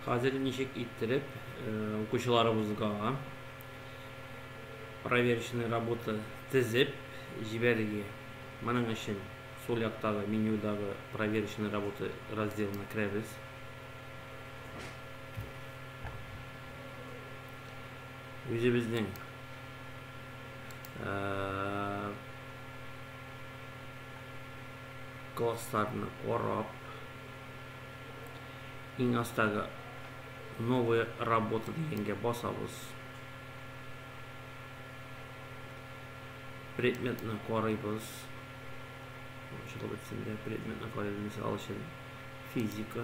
Хәзер ничек иттереп укучыларыбызга проверочный работа тезеп җибәрергә? Моның өчен сул яктагы менюдагы проверочный работа разделына керәбез. үзебезнең классларны карап, иң астагы новая работа дигәнгә басабыз. Предметны карыйбыз. Ачылып бетсен дә предметны карыйбыз. Мисал өчен физика.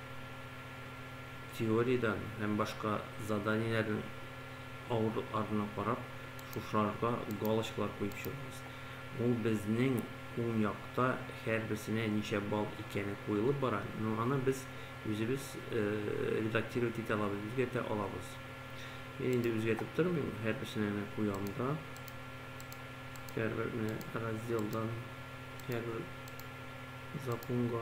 теориядән һәм башка заданиеләрнең авырлыкларына карап, шушыларга галочкалар куеп чыгыгыз. Ул безнең уң якта һәрберсенә ничә балл икәне куелып бара, но аны без үзебез редактировать итә алабыз, үзгәртә алабыз. Мин инде үзгәртеп тормыйм, һәрберсенә генә куям да. Һәрбер менә разделдан һәрбер законга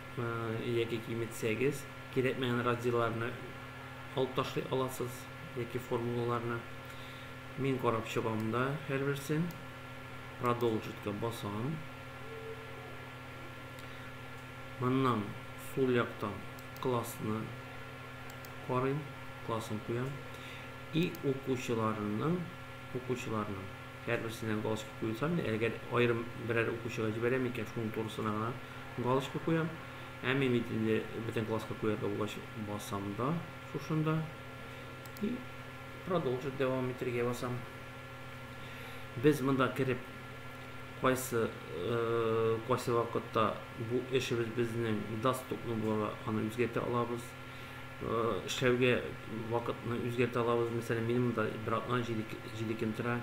яки киметсәгез, кирәкмәгән разделларны алып ташлый аласыз, яки формулаларны. Мин карап чыгам да һәрберсен. Продолжитка басам. Моннан сул яктан классны карыйм, классын куям. И укучыларның, укучыларның һәрберсенә галочка куйсам, әгәр аерым берәр укучыга җибәрәм икән, шуның турысына гына Галочка куям. Ә мин бит инде бөтен класска куя булгач басам да шушында. И продолжить дәвам итергә басам. Без монда кереп кайсы э, кайсы вакытта бу эшебез безнең доступны буларга аны үзгәртә алабыз э, эшләүгә вакытны үзгәртә алабыз мәсәлән минем монда братна җиде көн тора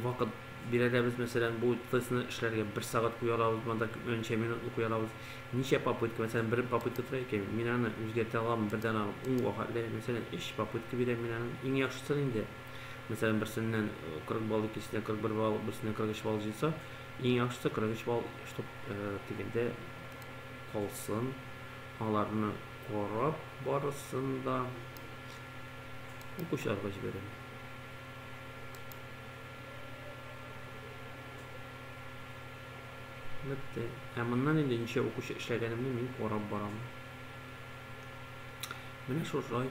вакыт бирәләбез, мәсәлән, бу тестны эшләргә бер сәгать куя алабыз, монда күпмәнчә минутлы куя алабыз. Ничә попытка, мәсәлән, бер попытка тора икән, мин аны үзгәртә алам, бердән алам, ун вакытлы, мәсәлән, өч попытка бирәм мин аны. Иң яхшысы инде, мәсәлән, берсеннән 40 балл, икенчесеннән 41 балл, берсеннән 43 балл җыйса, иң яхшысы 43 балл, чтоб дигәндә калсын. Аларны карап барысын да укучыларга җибәрәм. Бетте. Ә моннан инде ничә укучы эшләгәнемне мин карап барам. Менә шулай.